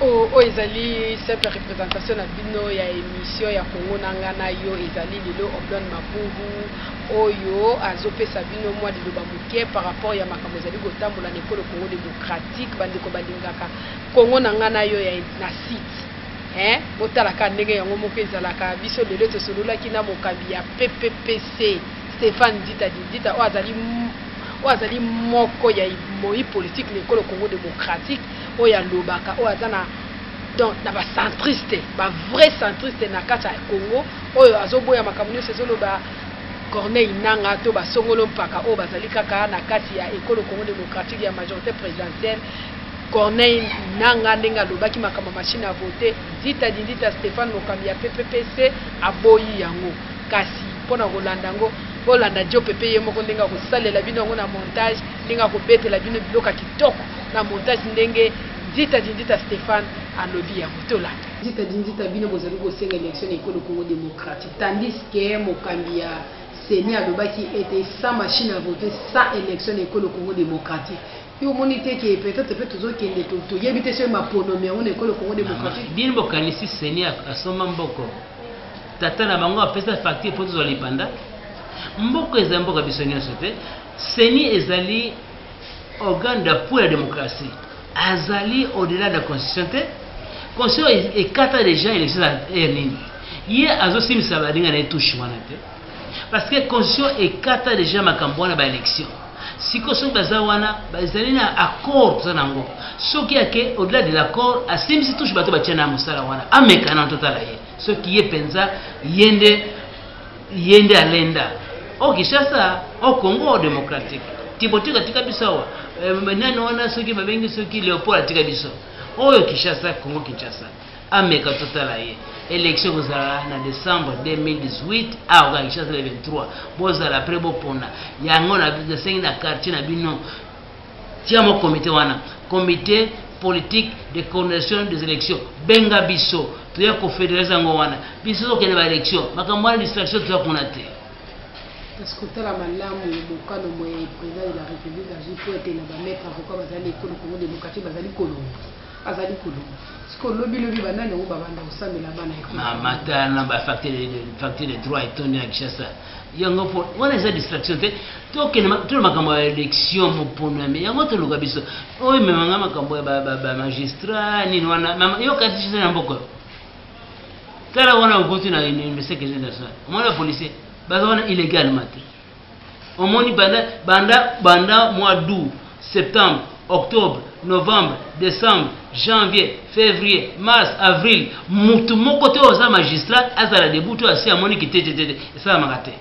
oyo ezali simple représentation na bino ya émission ya kongo na nga na yo ezali lelo oblon mabubu oyo azopesa bino mwa liloba moke par rapport ya makambo ezali kotambola na ekolo kongo démocratique bandeko balingaka kongo na nga na yo na site Hein, botala kaka ndenge yango moko ezalaka. Biso lelo tosololaki na mokambi ya PPPC, Stephane Dita Didita, oyo azali oyo azali moko ya moyi politique na ekolo Congo démocratique, oyo alobaka, oyo aza na donc na ba centriste, ba vrai centriste na kati ya Congo, oyo azoboya makambo nyonso ezoloba Corneille Nanga to ba songolo mpaka oyo bazali kaka na kati ya ekolo Congo démocratique ya majorité présidentielle Corneille Nanga ndenge alobaki makambo ya machine à voter, dita dindita Stephane mokambi ya PPPC aboyi yango. Kasi mpo na kolanda yango, bolanda Djo Pepe ye moko ndenge akosalela bino yango na montage, ndenge akobetela bino biloko ya kitoko na montage ndenge dita dindita Stephane alobi yango. Tolanda. Dita dindita bino bozali kosenga election na ekolo Congo democratique tandis que mokambi ya ceni alobaki ete sans machine à voter sans election na ekolo Congo democratique. Yo omoni te ke peut etre pe tozo kende to to yebi te soki maponomi yango na ekolo Congo demokratiki. Bino bo kanisi seni asomba mboko? Tata na bango apesa facture po tozwa lipanda? Mboko eza mboka biso nionso te. Seni ezali organe d'appui ya demokrasi. Azali au delà de la constitution te. Constitution ekata dejà election ya nini? Ye azo simbisa baninga na ye touche wana te. parce que constitution ekata deja makambo wana baélection siko soki baza wana ezali na accord toza nango soki yake au-delà de l'accord asimbisi touche bato batya na mosala wana ameka na totala ye soki ye mpenza ye nde ye nde alenda o kinshasa o congo démocratique tibotika tika biso awa eh, nani wana soki babengi soki léopold atika biso oyo kinshasa congo kinshasa ameka totala ye election ekozala na décembre 2018 awa kaka kinshasa le 23 bozala apres bopona yango nasengi na quartier na bino tia mo comité wana comité politique de coordination des élections benga biso toya kofederalize yango wana biso tokende baélection makambo wana distraction toya kuna te kasi kotala malamu mokano moye président de la république azwi mpo ete na bamaitre avocat bazali ekolo congo démocratique bazali kolonga azali koloba sikoyo lobilobi banani yango babanda kosambela bana matala na bafacture de droit etondi na kinshasa yango mpo wana eza distraction te tokende tolo makambo ya élection moponami yango toluka biso oyo ememanga makambo ya bamagistrat nini wana yokati cise na mboko tala wana okuti na université kese national omona policier baza wana illégalement te Omoni banda banda banda mois d'aout, septembre, octobre, novembre, decembre, janvier, fevrier, mars, avril mutu moko te oza magistrat azala debout to asi amoni kitetetete esalamaka te.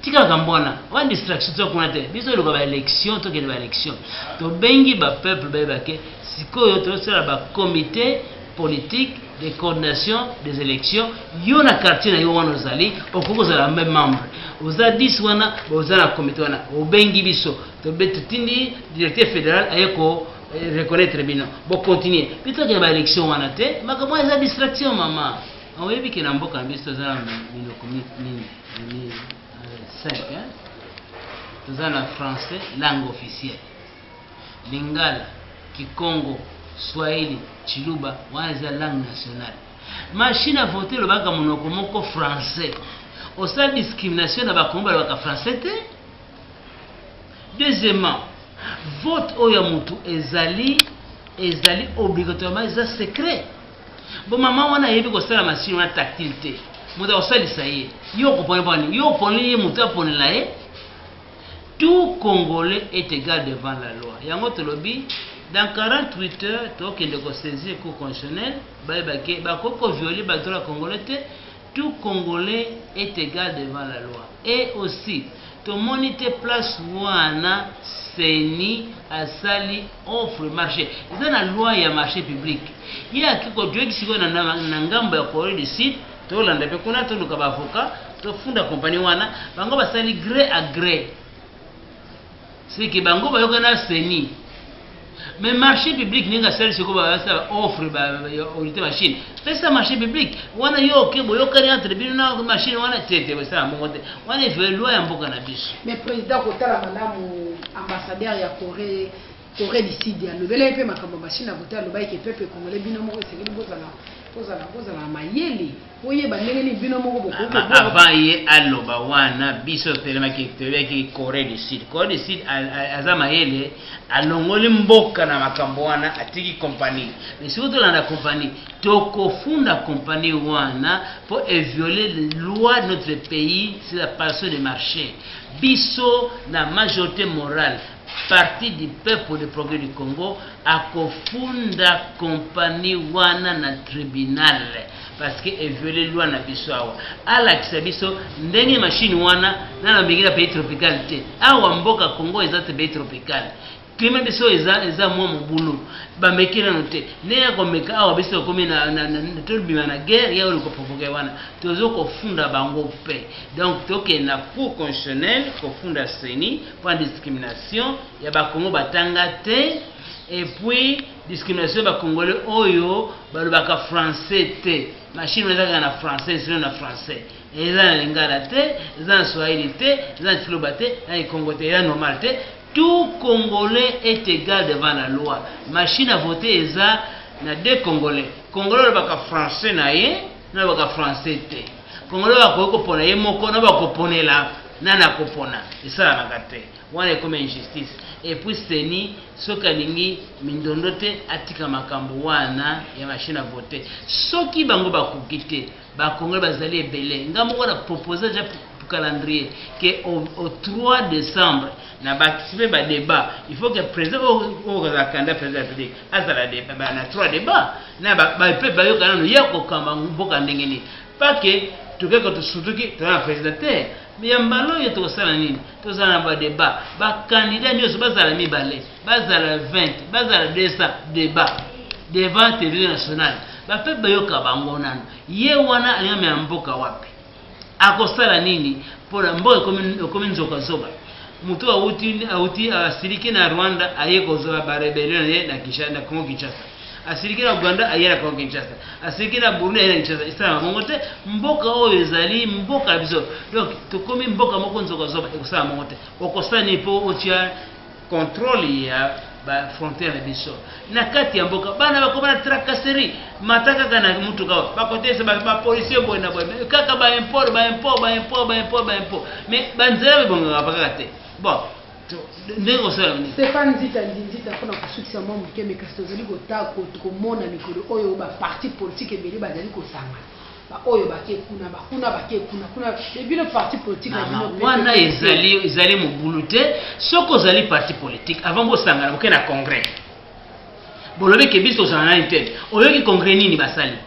tika makambo wana wana distraction toza kuna te biso eloka baélection tokende baélection tobengi bapeuple bayebake sikoyo tosala bacomité politique de coordination des elections yo na quartier na yo wana ozali okoki kozala meme membre oza 10 wana oza na comité wana obengi biso totindi directeur fédéral aye ko eh, reconnaître bino bocontinue bitokende baélection wana te makambo wana eza distraction mama oyebi ke na mboka na biso toza na minoko nini 5 toza na français langue officielle Lingala, kikongo, swahili, tshiluba wana eza langue nationale. Machine à voter elobaka monoko moko français. Osala discrimination na bakongo balobaka français te. Deuxièmement, vote oyo ya mutu ezali ezali obligatoirement eza secret. Bo mama wana ayebi kosala machine wana tactile te. Moto akosalisa ye. Yo okoponela bani? Yo oponeli ye mutu aponela ye? Tout congolais est egal devant la loi yango tolobi dans 48 heures tokende ko saisir cour constitutionnelle bayeba ke bakoki ko violer ba droits ya congolais te tout congolais est egal devant la loi et aussi tomoni te place wana ceni asali offre marche eza na loi ya marche public ye akeyi ko joindre sikoyo na ngambo ya coree du sud tolanda mpe kuna toluka ba avocat tofunda compagnie wana bango basali gré à gré seke bango bayoka na seni mais marché public ndenge asali seko basala baoffre baorite machine pesa marché public wana yo oke boyokani entre bino na machine wana te te bosala mbongo te wana ezwa loi ya mboka na biso mais président kotala malamu ambassadeur ya corée Corée du Sud ya lobela ye pe makambo ba Chine akote aloba eke peuple congolais bino moko esengeli bozala bozala bozala mayele boyeba ndenge nini bino moko bokoki avant ye aloba wana biso totelemaki toyebaki corée du sud corée du sud aza mayele alongoli mboka na makambo wana atiki kompani mais soki tolanda kompani tokofunda kompani wana mpo eviole loi de notre pays sur la passion de marché biso na majorité morale Parti du peuple le progrès du Congo akofunda compagnie wana na tribunal parce que e viole loi na biso awa alakisa biso ndenge machine wana na lambenge na pays tropical te awa mboka Congo eza te pays tropical klima biso eza eza mwa mobulu bameki nano te ndenge ya komeka awa biso tokomi tobima na guerre ya oyo koprovoke wana tozo kofunda bango mpe donc tokende na cour constitutionnel kofunda seni pona discrimination ya ba kongo batanga te et puis discrimination ya ba congolais oyo balobaka français te machine eza kaka na français sino na français eza na lingala te eza na swahili te eza na tiloba te na ikongo te eza normal te tout congolais est égal devant la loi machine à voter eza na deux congolais congolais alobaka français na ye nalobaka français te congolais bakoki kopona ye moko na bakoponela nani akopona esalanaka te wana ekomi injustice epuis seni soki alingi mindondo te atika makambo wana ya machine a vote soki bango bakoki te bakongole bazali ebele nga moko na propose ja calendrier ke au, au 3 décembre na bakisi mpe badebat il faut ke président oyo kozala candidat président ya république azala de, ba, na trois debat na ba, ba, pe bayoka nano ya kokamba mboka ndenge nini pake tokeka tosutuki toza na president te ya mbala oyo tokosala nini tozala na badeba bakandida nyonso bazala mibale bazala 20 bazala 200 deba devant television nationale bapepe bayoka bango nano ye wana alingamela mboka wapi akosala nini pona mboka ekomi ekomi nzoka zoba mutu awuti awuti asiliki na Rwanda aye kozwa ba rebellion na ye na Kinshasa na Congo Kinshasa asiliki na Uganda aye na Congo Kinshasa asiliki na Burundi aye na Kinshasa esalama mongo te mboka oyo ezali mboka ya biso donc tokomi mboka moko nzoka zoba ekosala mongo te okosala nini po otia controle ya ba frontière na biso na kati ya mboka bana bakoma na tracasserie mata kaka na motuka oyo bakotesa bapolicier boye na boye kaka baimport baimport baimport baimport baimport mais banzela bebongaka pa kaka te bon ndenge osala nini stefan nzita nzinzita mpo na kosukisa mwa moke me kasi tozali kotako komona mikolo oyo baparti politike ebele bazali kosangana ba oyo bake kuna ba kuna bake kuna kuna mais bino parti politique na bino wana ezali ezali mobulu te soki ozali parti politique avant bosangana boke na congrès bolobi ke biso tozala nani te oyoki congrès nini basali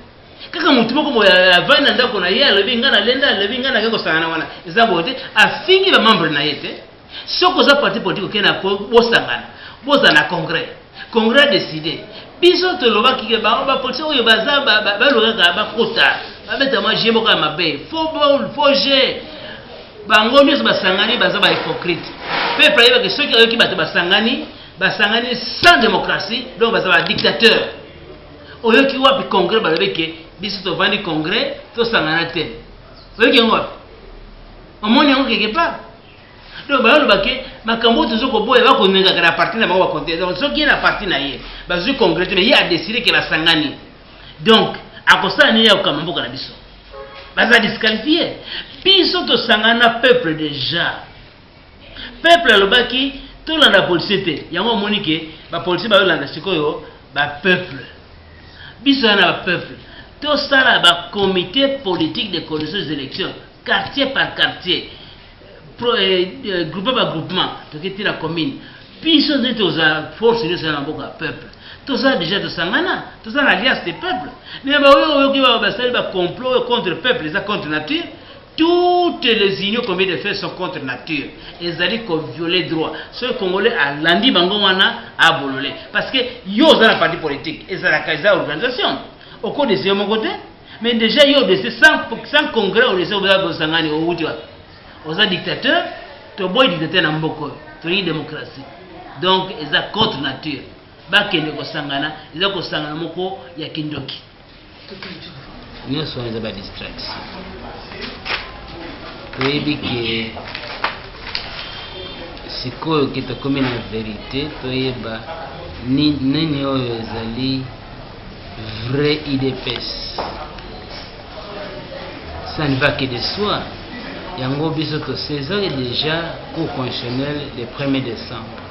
kaka motu moko boye avandi na ndako na ye alobi ngai nalenda alobi ngai nake kosangana wana eza boye te afingi bamembre na ye te soki oza parti politique okei na bosangana bozala na congrès congrès décide biso tolobaki ke bango bapolitien oyo baza balukaka bakota babeta mwa je moko ya mabe fo bol fo je bango nyonso basangani baza bahypocrite peuple ayebake soki ayoki bato basangani basangani sans démocratie donc baza badictateur oyoki wapi congrès balobi ke biso tovandi congrès tosangana te oyoki yango wapi omoni yango quelque part donc bayoloba ke makambo oyo tozo koboya bakonengaka na parti na bango bakonte donc soki ye na parti na ye bazwi congrete me ye adeside ke basangani donc akosala nini ya kokamba mboka na biso baza disqualifie biso tosangana na peuple déjà peuple alobaki tolanda policier te yango omoni ke bapolicier bayolanda sikoyo bapeuple biso ya na bapeuple tosala bacomité politique de conditions des élections quartier par quartier pro, eh, eh, groupement par groupement toke ti na commune biso nde toza force nyonso ya maboko ya peuple toza deja tosangana toza na alliance de peuple mais baoyo oyoki basali bacomplot contre peuple eza contre nature toutes les unions combien de fait sont contre nature ezali kovioler droit soki congolais alandi bango wana abolole parce que yo oza na parti politique ezalaka eza organisation okodeseye moko te Mais déjà yo obese sans, sans congrès obese obela bosangani owuti wapi oza dictateur toboyi dictateur na mboka oyo tolingi démocratie donc eza contre nature bakende kosangana eza kosangana moko ya kindoki nyonso wana eza ba distraction toyebi ke sikoyo ke tokomi na verite toyeba nini oyo ezali vrai idps ça ne va que de soi yango biso tosezaki déjà cour constitutionnel le 1er décembre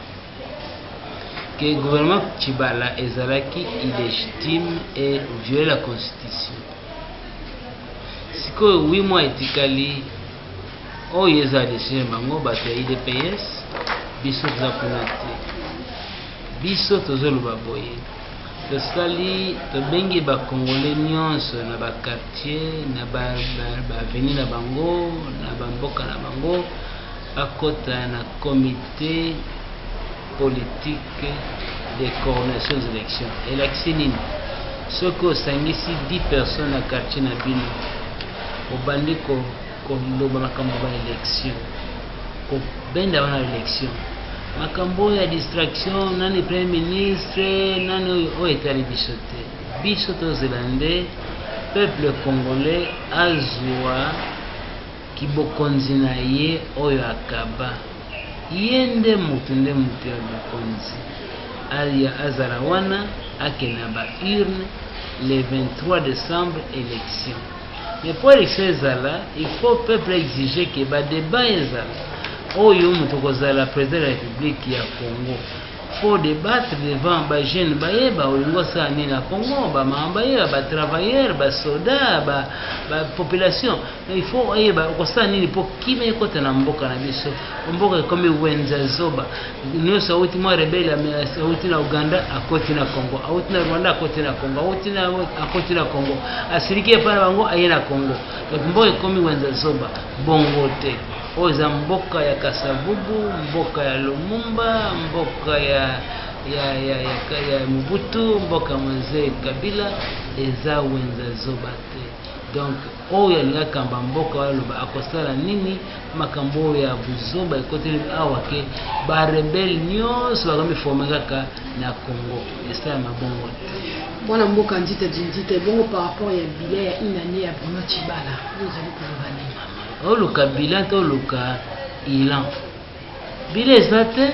que gouvernement tshibala ezalaki illégitime et viole la constitution sikoyo 8 mois etikali oyo eza decision bango bato ya idps biso toza kuna te Biso tozoloba boye tosali tobengi ba congolais nionso na ba quartier na ba avenue na bango na ba mboka na bango bakota na comite politique de coordination des elections elakisi nini soki osangisi 10 personnes na quartier na bino obandi ko koloba makambo ya baelection kobenda wana election makambo oyo ya distraction nani premier ministre nani oyo oyo etali biso te biso tozela nde peuple congolais azwa kibokonzi na ye oyo akaba ye nde moto nde moto ya bokonzi aya azala wana akenda ba urne le 23 décembre élection Mais pour election ezala, il faut peuple exige que ba debat ezala. Oyo moto kozala président de la République ya Congo. Faut débattre devant ba jeunes bayeba olingo sa nini na Congo, ba maman bayeba, ba travailleurs, ba soldats, ba, ba population. Mais il faut ayeba okosala nini pour kimia ekota na mboka na biso. Mboka ekomi wenza zoba nyoso auti mwa rebele auti na Uganda akoti na Congo auti na Rwanda akoti na Congo auti na akoti na Congo asiliki epai na bango aye na Congo donc mboka ekomi wenza zoba bongo te oyo eza mboka ya Kasavubu mboka ya Lumumba mboka ya ya, ya, ya, ya Mobutu mboka mzee Kabila eza wenza zoba te donc Oyo alingi akamba mboka aloba akosala nini makambo oyo ya buzoba ekoteli awa ke ba rebelle nionso bakomi forme kaka na Congo esala mabongo te. Mwana mboka nzita dinzita ebongo par rapport ya bilan ya une annee ya Bruno Tshibala oyo ozali koloba nini? oluka bilan to oluka ilan bilan eza te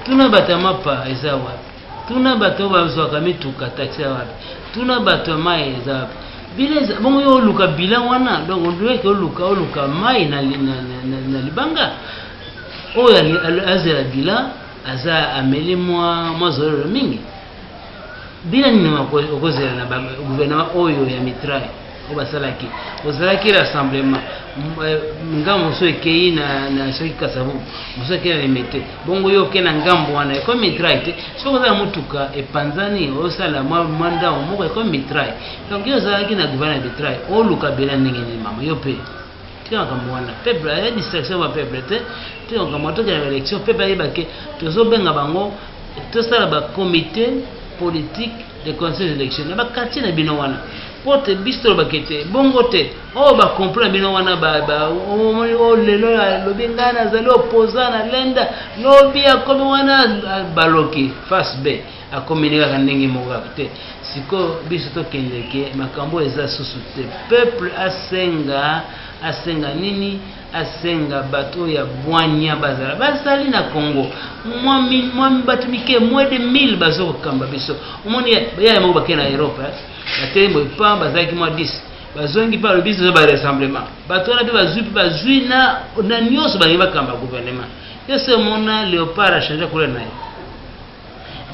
tuna bato ya mapa eza wapi Tuna bato oyo bazwaka mituka taxi ya wapi, tuna bato ya mai eza wapi. Bila eza bongo, yo oluka bila wana, donc ondueke oluka oluka mai na, na, na, na, na libanga. Oyo azela bila aza ameli mwa mwa zololo mingi. Bila nini okozela na gouvernement oyo ya mitraille? oyo basalaki ozalaki rassemblement euh, ngambo mosusu ekei na soki kasavu mosusu ekei na limete bongo yo okei na ngambo wana ekomi mitrai te soki oza na motuka epanzani osala mwa ndango moko ekomi mitrai donc yo ozalaki na gouvernement ya mitrai oluka bela ndenge nini mama yo mpe tika makambo wana peuple aya distraction ba peuple te tika makambo wana tokenda baélection peuple ayeba ke tozobenga bango tosala bacomité politique de conseil d'élection na bakartier na bino wana mpo te biso tolobaka ete bongo te oyo oh, bakomplo na bino wana omoni oh, oyo oh, lelo alobi ngai nazali opoza na lenda lobi akomi wana baloki face b akomeli kaka ndenge moko te sikoyo biso tokendeke makambo eza susu te peuple asenga asenga nini asenga bato oyo ya bwanya bazala bazali na congo mwa bato mike mwa de 1000 bazo kokamba biso omoni yaya moko bakei na europe eh? batei boye pa bazalaki mwa 10 bazongi mpe alobi zoza barassemblement bato wana mpe bazwi mpe bazwi na nyonso balingi bakamba gouvernement yo se omona leopard achange couleur na ye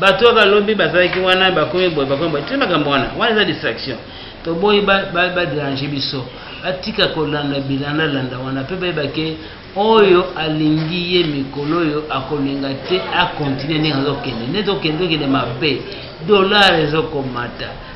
bato oyo balobi bazalaki wana bakomi boye bakomi boye tini makambo wana wana eza distraction toboyi baderange biso batika kolanda bilandalanda wana mpe bayebake oyo alingi ye mikolo oyo akolinga te akontinue ndenge azokende nde tokende tokende mabe dollar ezokomata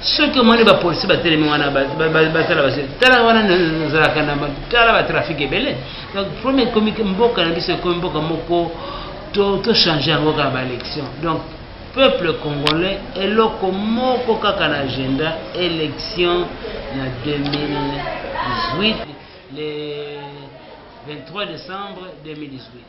soki omoni bapolisi batelemi wana basala basi tala wana nazalaka na tala batrafike ebele donc problème ekomi mboka na biso ekomi mboka moko tochange yango kaka baélection donc peuple congolais eloko moko kaka na agenda élection na 2018 le 23 décembre 2018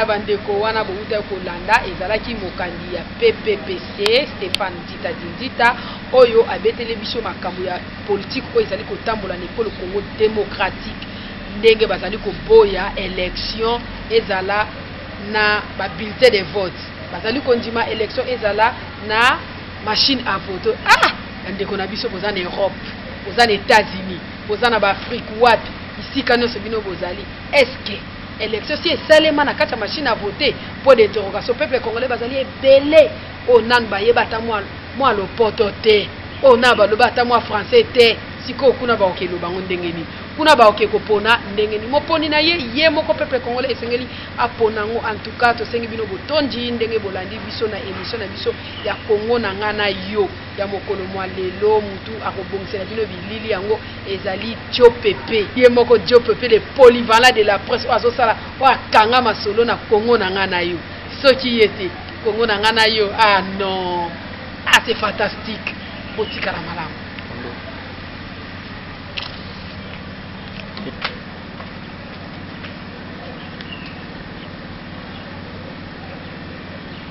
Ba ndeko wana bowutaki kolanda ezalaki mokambi ya PPPC Stephane Nzita Dinzita oyo abeteli biso makambo ya politique oyo ezali kotambola na ekolo Congo democratique ndenge bazali koboya election ezala na ba bulletins de vote bazali kondima election ezala na machine à voter. Ah! Ba ndeko na biso boza na Europe, boza na Etats-Unis, boza na ba Afrique wapi? Bisika nionso bino bozali est-ce que Election si esalema na kati ya machine à voter pour d'interrogation peuple congolais bazali ebele oyo nanu bayeba ata mwa lopoto te oyo na baloba ata mwa français te sikoyo kuna baoke eloba yango ndenge nini kuna baoke kopona ndenge nini moponi na ye ye moko peuple congolais esengeli apona yango en tout cas tosengi bino botondi ndenge bolandi biso na émission na biso ya congo na ngai na yo ya mokolo mwa lelo mutu akobongisela bino bilili yango ezali diopepe ye moko diopepe le polyvalent de la presse oyo azosala oyo akanga masolo na kongo na ngai na yo soki ye te kongo na ngai na yo ah non ah c'est fantastique botikala malamu